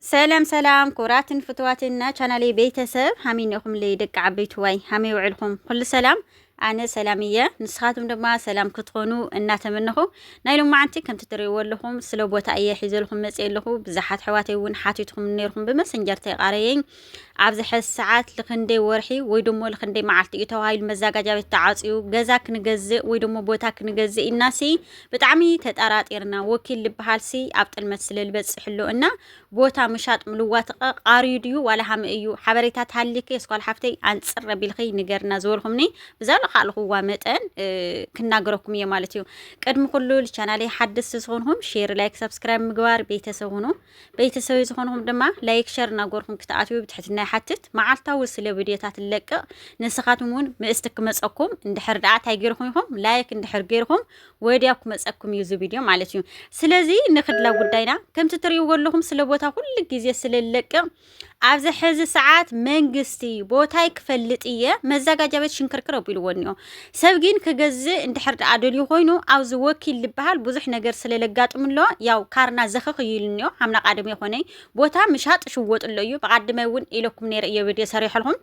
ሰላም ሰላም ክቡራትን ፍትዋትን ናይ ቻናለይ ቤተሰብ ሃመይ ኢኹምለይ ደቂ ዓበይትዋይ ሃመይ ውዕልኹም ኩሉ ሰላም ኣነ ሰላም እየ ንስኻትኩም ድማ ሰላም ክትኾኑ እናተመነኹ ናይ ሎማዓንቲ ከምቲ ትርእይዎ ኣለኹም ስለ ቦታ እየ ሒዘልኩም መፅእ ኣለኹ ብዙሓት ሕዋተይ እውን ሓቲትኩም ነርኩም ብመሰንጀር ተይቃረየኝ ኣብዚ ሕዚ ሰዓት ልክንደይ ወርሒ ወይ ደሞ ልክንደይ መዓልቲ እዩ ተባሂሉ መዛጋጃ ቤት ተዓፅዩ ገዛ ክንገዝእ ወይ ደሞ ቦታ ክንገዝእ ኢልናሲ ብጣዕሚ ተጣራጢርና ወኪል ልበሃልሲ ኣብ ጥልመት ስለ ልበጽሕ ኣሎ እና ቦታ ምሻጥ ምልዋትቀ ቃርዩ ድዩ ዋላ ሃመ እዩ ሓበሬታ ተሃሊኪ የስኳል ሓፍተይ ኣንጽር ረቢልኺ ንገርና ዝበልኹምኒ ብዛ ልኻልኹዋ መጠን ክናገረኩም እየ ማለት እዩ ቅድሚ ኩሉ ልቻናለይ ሓድስ ዝኾንኹም ሼር ላይክ ሰብስክራይብ ምግባር ቤተሰብ ሁኑ ቤተሰበይ ዝኾንኹም ድማ ላይክ ሸር እናጎርኹም ክትኣትዩ ብትሕትና ይሓትት መዓልታዊ ስለ ቪድዮታት ንለቅቕ ንስኻትኩም እውን ምእስቲ ክመፀኩም እንድሕር ደኣ እንታይ ጌርኹም ኢኹም ላይክ እንድሕር ጌርኹም ወዲያው ክመፀኩም እዩ እዚ ቪድዮ ማለት እዩ ስለዚ ንክድላ ጉዳይና ከምቲ ትሪእዎ ኣለኹም ስለ ቦታ ኩሉ ግዜ ስለ ንለቅቕ ኣብዚ ሕዚ ሰዓት መንግስቲ ቦታይ ክፈልጥ እየ መዘጋጃ ቤት ሽንክርክር ኣቢልዎ እኒኦ ሰብ ግን ክገዝእ እንድሕር ደኣ ደልዩ ኮይኑ ኣብዚ ወኪል ዝበሃል ብዙሕ ነገር ስለ ለጋጥም ኣሎ ያው ካርና ዘኽኽ እዩ ኢሉ እኒኦ ሓምና ቃደም የኾነይ ቦታ ምሻጥ ሽወጥ ኣሎ እዩ ብቃድመ እውን ኢለኩም ነይረ እየ ቪድዮ ሰሪሐልኩም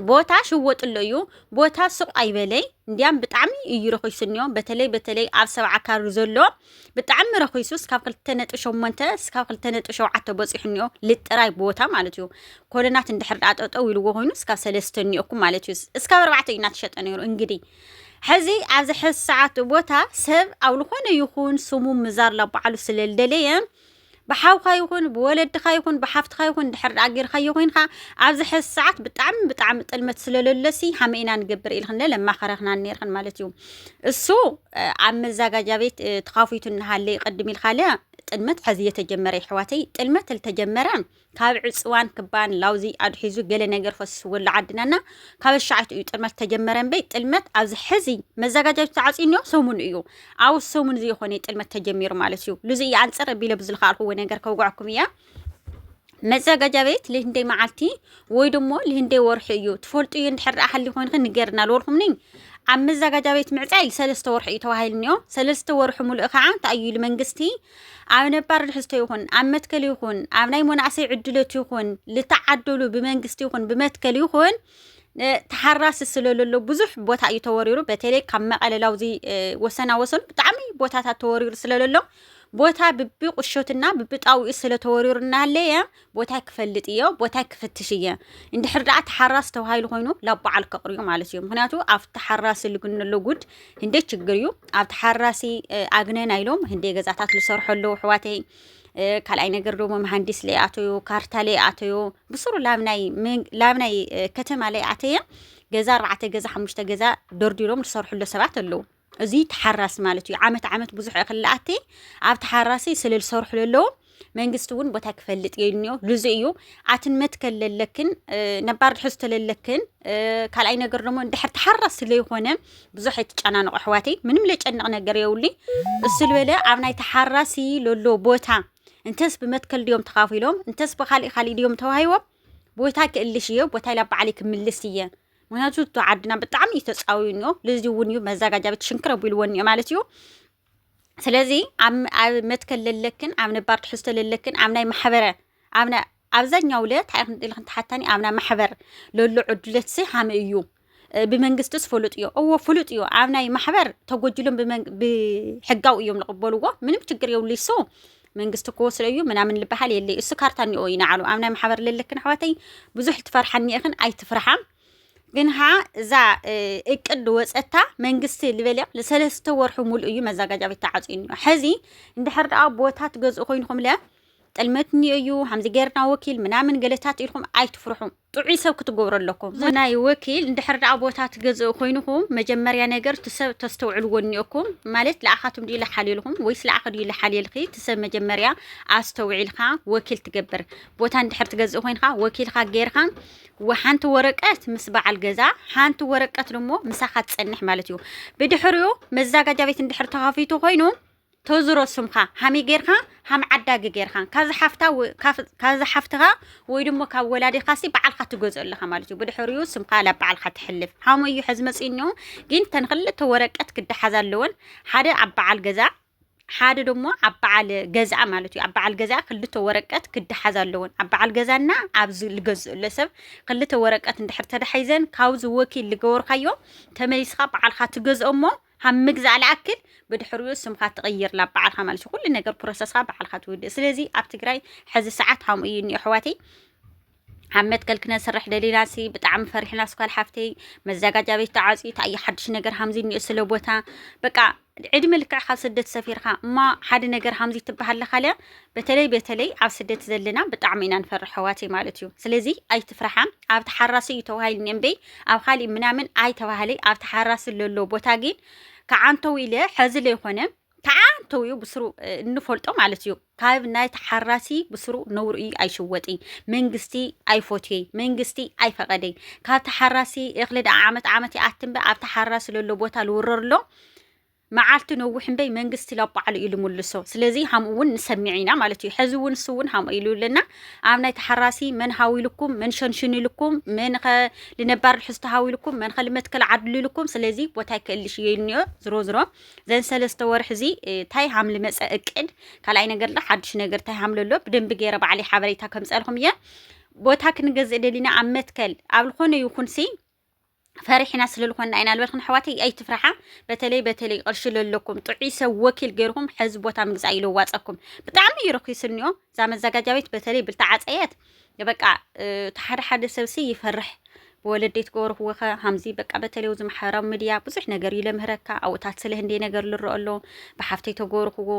ቦታ ሽወጥሎ እዩ ቦታ ስቕ ኣይበለይ እንዲያም ብጣዕሚ እዩ ረኺሱኒዮ በተለይ በተለይ ኣብ ሰብዓ ካሪ ዘሎ ብጣዕሚ ረኺሱ እስካብ ክልተ ነጥቢ ሸሞንተ እስካብ ክልተ ነጥቢ ሸውዓተ በፂሑኒዮ ልጥራይ ቦታ ማለት እዩ ኮለናት እንድሕር ዳኣ ጠጠው ኢልዎ ኮይኑ እስካብ ሰለስተ እኒኦኩም ማለት እዩ እስካብ ኣርባዕተ እዩ እናተሸጠ ነይሩ እንግዲህ ሕዚ ኣብዚ ሕዚ ሰዓት ቦታ ሰብ ኣብ ዝኾነ ይኹን ስሙ ምዛር ላባዕሉ ስለልደለየ ብሓውካ ይኹን ብወለድኻ ይኹን ብሓፍትኻ ይኹን ድሕር ደኣ ጌርካዮ ኮይንካ ኣብዚ ሕዚ ሰዓት ብጣዕሚ ብጣዕሚ ጥልመት ስለለለሲ ሃመ ኢና ንገብር ኢልክን ለማኸረክና ነርክን ማለት እዩ እሱ ኣብ መዛጋጃ ቤት ተኻፊቱ እናሃለ ቅድም ኢልካለ ጥልመት ሕዚ እየተጀመረ ይሕዋተይ ጥልመት ልተጀመረ ካብ ዕፅዋን ክባን ላውዚ ኣድሒዙ ገለ ነገር ፈስወሉ ዓድና እና ካብ ኣሻዓይቱ እዩ ጥልመት ተጀመረ እምበይ ጥልመት ኣብዚ ሕዚ መዘጋጃ ቤት ተዓፅዩ እኒኦ ሰሙን እዩ ኣብ ሰሙን እዚ ይኾነ ጥልመት ተጀሚሩ ማለት እዩ ልዚ እዩ ኣንፅር ቢለ ብዝልካኣልኩዎ ነገር ከውግዐኩም እያ መዘጋጃ ቤት ልህንደይ መዓልቲ ወይ ደሞ ልህንደይ ወርሒ እዩ ትፈልጡ እዩ እንድሕር ደኣ ሃሊ ኮይንክ ንገርና ልበልኩም ነኝ ኣብ መዘጋጃ ቤት ምዕፃይ ሰለስተ ወርሒ እዩ ተባሂሉ እኒኦ ሰለስተ ወርሒ ሙሉእ ከዓ እንታይ እዩ ኢሉ መንግስቲ ኣብ ነባር ትሕዝቶ ይኹን ኣብ መትከል ይኹን ኣብ ናይ መናእሰይ ዕድሎት ይኹን ዝተዓደሉ ብመንግስቲ ይኹን ብመትከል ይኹን ተሓራሲ ስለለሎ ብዙሕ ቦታ እዩ ተወሪሩ በተለይ ካብ መቐለላው እዚ ወሰና ወሰኑ ብጣዕሚ ቦታታት ተወሪሩ ስለለሎ ቦታ ብቢ ቁሾትና ብቢ ጣውኡ ስለተወሪሩ እናሃለየ ቦታይ ክፈልጥ እዮ ቦታይ ክፍትሽ እየ እንድሕር ደኣ ተሓራስ ተባሂሉ ኮይኑ ላብ በዓል ከቕርዩ ማለት እዩ ምክንያቱ ኣብ ተሓራሲ ልግነሎ ጉድ ህንደይ ችግር እዩ ኣብ ተሓራሲ ኣግነና ኢሎም ህንደይ ገዛታት ዝሰርሑ ኣለዉ ኣሕዋተይ ካልኣይ ነገር ደሞ መሃንዲስ ለይኣተዩ ካርታ ለይኣተዩ ብስሩ ላብ ናይ ከተማ ለይኣተየ ገዛ ኣርባዕተ ገዛ ሓሙሽተ ገዛ ደርዲሮም ዝሰርሕሎ ሰባት ኣለዉ እዚ ተሓራሲ ማለት እዩ ዓመት ዓመት ብዙሕ እኽሊ ኣቲ ኣብ ተሓራሲ ስለ ዝሰርሑ ለለዉ መንግስቲ እውን ቦታ ክፈልጥ የድንዮ ልዙ እዩ ኣትን መትከል ለለክን ነባር ትሕዝቶ ለለክን ካልኣይ ነገር ደግሞ እንድሕር ተሓራስ ስለይኾነ ብዙሕ ኣይትጨናነቑ ኣሕዋተይ ምንም ለጨንቕ ነገር የውሊ እሱ ልበለ ኣብ ናይ ተሓራሲ ለሎ ቦታ እንተስ ብመትከል ድዮም ተኻፊሎም እንተስ ብካሊእ ካሊእ ድዮም ተዋሂቦም ቦታ ክእልሽ እየ ቦታ ኢላ በዓለይ ክምልስ እየ ምክንያቱ እቶ ዓድና ብጣዕሚ እዩ ተፃውዩ እኒኦ ልዚ እውን እዩ መዛጋጃ ቤት ሽንክር ኣቢልዎ እኒኦ ማለት እዩ ስለዚ ኣብ መትከል ለለክን ኣብ ነባር ትሕዝቶ ለለክን ኣብ ናይ ማሕበረ ኣብ ናይ ኣብዛኛው ለ እንታይ ኢልክን ተሓታኒ ኣብ ናይ ማሕበር ለሎ ዕዱለት ሲ ሃመ እዩ ብመንግስትስ ፍሉጥ እዩ እዎ ፍሉጥ እዩ ኣብ ናይ ማሕበር ተጎጅሎም ብሕጋው እዮም ዝቕበልዎ ምንም ችግር የብሉ ይሶ መንግስቲ ክወስዶ እዩ ምናምን ልበሃል የለይ እሱ ካርታ እኒኦ እዩ ንዓሉ ኣብ ናይ ማሕበር ልልክን ኣሕዋተይ ብዙሕ ልትፈርሓኒ እኽን ኣይትፍርሓ ግን ሃ እዛ እቅድ ወፀታ መንግስቲ ልበልያ ለሰለስተ ወርሑ ሙሉእ እዩ መዛጋጃ ቤት ተዓፅዩ እኒኦ ሕዚ እንድሕር ደኣ ቦታ ትገዝኡ ኮይንኹም ለ ጥልመት እኒኦ እዩ ሃምዚ ገርና ወኪል ምናምን ገለታት ኢልኩም ኣይትፍርሑ ጥዑይ ሰብ ክትገብሩ ኣለኩም እዚ ናይ ወኪል እንድሕር ደኣ ቦታ ትገዝኡ ኮይንኩም መጀመርያ ነገር እቲ ሰብ ተስተውዕልዎ እኒኦኩም ማለት ለኣኻትም ድዩ ለሓልየልኩም ወይስ ለኣኺ ድዩ ለሓልየልኺ እቲ ሰብ መጀመርያ ኣስተውዒልካ ወኪል ትገብር ቦታ እንድሕር ትገዝእ ኮይንካ ወኪልካ ጌርካ ሓንቲ ወረቀት ምስ በዓል ገዛ ሓንቲ ወረቀት ደሞ ምሳኻ ትጸንሕ ማለት እዩ ብድሕሪኡ መዛጋጃ ቤት እንድሕር ተኸፊቱ ኮይኑ ተዝሮ ስምካ ሃመይ ጌርካ ሃም ዓዳጊ ጌርካ ካብዚ ሓፍታ ካብዚ ሓፍትኻ ወይ ድሞ ካብ ወላዲኻሲ በዓልካ ትገዝኦ ኣለኻ ማለት እዩ ብድሕሪኡ ስምካ ላብ በዓልካ ትሕልፍ ሃመይ እዩ ሕዚ መጽእኒዮ ግን ተን ክልተ ወረቀት ክደሓዝ ኣለወን ሓደ ኣብ በዓል ገዛ ሓደ ደሞ ኣብ በዓል ገዛኣ ማለት እዩ ኣብ በዓል ገዛኣ ክልተ ወረቀት ክደሓዝ ኣለወን ኣብ በዓል ገዛና ኣብዚ ልገዝእ ኣሎ ሰብ ክልተ ወረቀት እንድሕር ተዳሒዘን ካብዚ ወኪል ልገበርካዮ ተመሊስካ በዓልካ ትገዝኦ እሞ ሃብ ምግዛእ ልኣክል ብድሕሪኡ ስምካ ትቕይር ላብ በዓልካ ማለት እዩ ኩሉ ነገር ፕሮሰስካ በዓልካ ትውድእ ስለዚ ኣብ ትግራይ ሕዚ ሰዓት ሃምኡ እዩ እኒኦ ኣሕዋተይ ኣብ መትከል ክነስርሕ ደሊና ሲ ብጣዕሚ ፈሪሕና ስኳል ሓፍተይ መዘጋጃ ቤት ተዓፅዩ ታየ ሓድሽ ነገር ሃምዚ እኒኦ ስለ ቦታ በቃ ዕድመ ልክዕ ካብ ስደት ሰፊርካ እማ ሓደ ነገር ሃምዚ ትበሃለካ ልያ በተለይ በተለይ ኣብ ስደት ዘለና ብጣዕሚ ኢና ንፈርሕ ኣሕዋተይ ማለት እዩ ስለዚ ኣይትፍርሓ ኣብ ተሓራሲ እዩ ተባሂልኒ እምበይ ኣብ ካሊእ ምናምን ኣይተባህለይ ኣብ ተሓራሲ ለሎ ቦታ ግን ከዓንተው ኢለ ሐዚ ለይኮነ ተዓንተው እዩ ብስሩ እንፈልጦ ማለት እዩ ካብ ናይ ተሓራሲ ብስሩ ነውሩ እዩ ኣይሽወጥ መንግስቲ ኣይፎትየ መንግስቲ ኣይፈቀደይ ካብ ተሓራሲ እኽሊ ደኣ ዓመት ዓመት ይኣትንበ ኣብ ተሓራሲ ለሎ ቦታ ልውረርሎ መዓልቲ ነዊሕ እምበይ መንግስቲ ላብ ባዕሉ ኢሉ ምልሶ ስለዚ ሃምኡ ውን ንሰሚዕ ኢና ማለት እዩ ሐዚ ውን ንሱ ውን ሃምኡ ኢሉ እልና ኣብ ናይ ተሓራሲ መን ሃው ኢሉኩም መን ሸንሽኑ ኢሉኩም መን ኸ ልነባር ልሕዝቶ ሃው ኢሉኩም መን ኸ ልመትከል ዓድሉ ኢሉኩም ስለዚ ቦታ ይከእልሽ እዮ ኢልንዮ ዝሮ ዝሮ ዘን ሰለስተ ወርሒ እዚ ታይ ሃም ልመፀ እቅድ ካልኣይ ነገር ዶ ሓድሽ ነገር ታይ ሃም ለሎ ብደንቢ ገይረ ባዕለይ ሓበሬታ ከምፀልኹም እየ ቦታ ክንገዝእ ደሊና ኣብ መትከል ኣብ ልኾነ ይኹን ሲ ፈሪሕና ስለልኾና ኢና ልበልክን ኣሕዋተይ ኣይትፍርሓ በተለይ በተለይ ቅርሺ ለለኩም ጥዑይ ሰብ ወኪል ገይርኩም ሕዚ ቦታ ምግዛእ ይለዋፀኩም ብጣዕሚ እዩ ረኪስኒኦ እዛ መዘጋጃ ቤት በተለይ ብልተዓፀየት በቃ እቲ ሓደ ሓደ ሰብሲ ይፈርሕ ብወለደይ ትገብርክዎ ከ ሃምዚ በቃ በተለይ እዚ ማሕበራዊ ሚድያ ብዙሕ ነገር እዩ ለምህረካ ኣብኡታት ስለ ህንደይ ነገር ልረኦ ኣሎ ብሓፍተይ ተገብርክዎ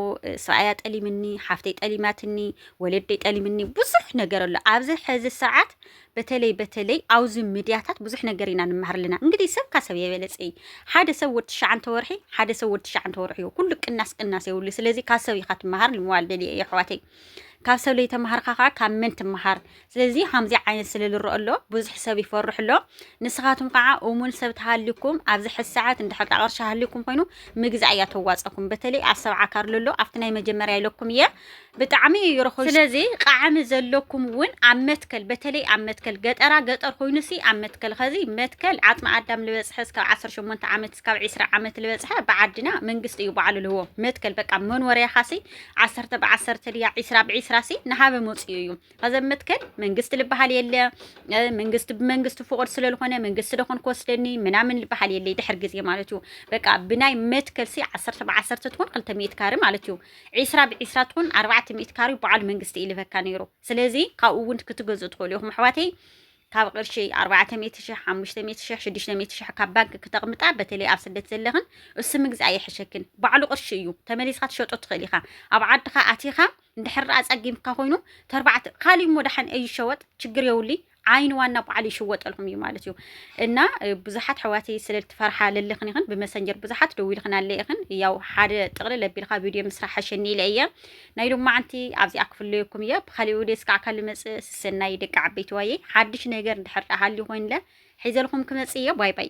ስራኣያ ጠሊምኒ ሓፍተይ ጠሊማትኒ ወለደይ ጠሊምኒ ብዙሕ ነገር ኣሎ ኣብዚ ሕዚ ሰዓት በተለይ በተለይ ኣውዚ ምድያታት ብዙሕ ነገር ኢና ንመሃር ኣለና እንግዲህ ሰብ ካብ ሰብ የበለጸ እዩ ሓደ ሰብ ወድ ትሽዓንተ ወርሒ ሓደ ሰብ ወድ ትሽዓንተ ወርሒ እዩ ኩሉ ቅናስ ቅናስ የብሉ ስለዚ ካብ ሰብ ኢኻ ትመሃር ንምባል ደልየ እዩ ኣሕዋተይ ካብ ሰብ ለይተማሃርካ ከዓ ካብ መን ትመሃር ስለዚ ከምዚ ዓይነት ስለ ዝረአ ኣሎ ብዙሕ ሰብ ይፈርሕ ኣሎ ንስኻትኩም ከዓ እሙን ሰብ ተሃልዩኩም ኣብዚ ሕዚ ሰዓት እንድሕር ዳ ቅርሺ ሃልዩኩም ኮይኑ ምግዛእ እያ ተዋፀኩም በተለይ ኣብ ሰብዓ ካርሎ ኣሎ ኣብቲ ናይ መጀመርያ ኢለኩም እየ ብጣዕሚ እዩ ርኹስ ስለዚ ቃዕሚ ዘለኩም እውን ኣብ መትከል በተለይ ኣብ መትከል ገጠራ ገጠር ኮይኑሲ ኣብ መትከል ኸዚ መትከል ዓጽሚ ኣዳም ልበጽሐ እስካብ 18 ዓመት እስካብ 20 ዓመት ልበጽሐ ብዓድና መንግስቲ እዩ ባዕሉ ልህቦ መትከል በቃ መንወርያኻሲ ዓሰርተ ብዓሰርተ ድያ ዒስራ ብዒስራሲ ንሃበ መጽኡ እዩ ኸዚ ኣብ መትከል መንግስቲ ልበሃል የለ መንግስቲ ብመንግስቲ ፍቑድ ስለልኾነ መንግስቲ ደኾን ክወስደኒ ምናምን ልበሃል የለ ድሕር ግዜ ማለት እዩ በቃ ብናይ መትከልሲ ዓሰርተ ብዓሰርተ ትኾን ክልተ ሚእት ካሪ ማለት እዩ ዒስራ ብዒስራ ትኹን ኣርባዕተ ሚእቲ ካሬ በዓል መንግስቲ እዩ ልበካ ነይሩ። ስለዚ ካብኡ እውን ክትገዝኡ ትኽእሉ ኢኹም ኣሕዋተይ። ካብ ቅርሺ ኣርባዕተ ሚእቲ ሽሕ፣ ሓሙሽተ ሚእቲ ሽሕ፣ ሽዱሽተ ሚእቲ ሽሕ ካብ ባንኪ ክተቕምጣ በተለይ ኣብ ስደት ዘለኽን እሱ ምግዛእ ይሕሸክን። ባዕሉ ቅርሺ እዩ። ተመሊስካ ትሸጦ ትኽእል ኢኻ። ኣብ ዓድኻ ኣቲኻ እንድሕር ኣጸጊምካ ኮይኑ ተርባዕተ ካሊእ እሞ ደሓን ኣይሸወጥ ችግር የውልይ። ዓይኒ ዋና በዓል ይሽወጠልኩም እዩ ማለት እዩ እና ብዙሓት ኣሕዋተይ ስለ ትፈርሓ ለለኽን ይኽን ብመሰንጀር ብዙሓት ደዊልኽን ኣለ ይኽን ያው ሓደ ጥቕልል ኣቢልካ ቪድዮ ምስራሕ ሓሸኒ ኢለ እየ ናይ ሎማዓንቲ ኣብዚኣ ክፍለየኩም እየ ብካሊእ ውዴ እስካዕ ካል መፅእ ስሰናይ ደቂ ዓበይቲ ዋየ ሓድሽ ነገር እንድሕር ሃልዩ ኮይንለ ሒዘልኩም ክመፅእ እየ ባይ ባይ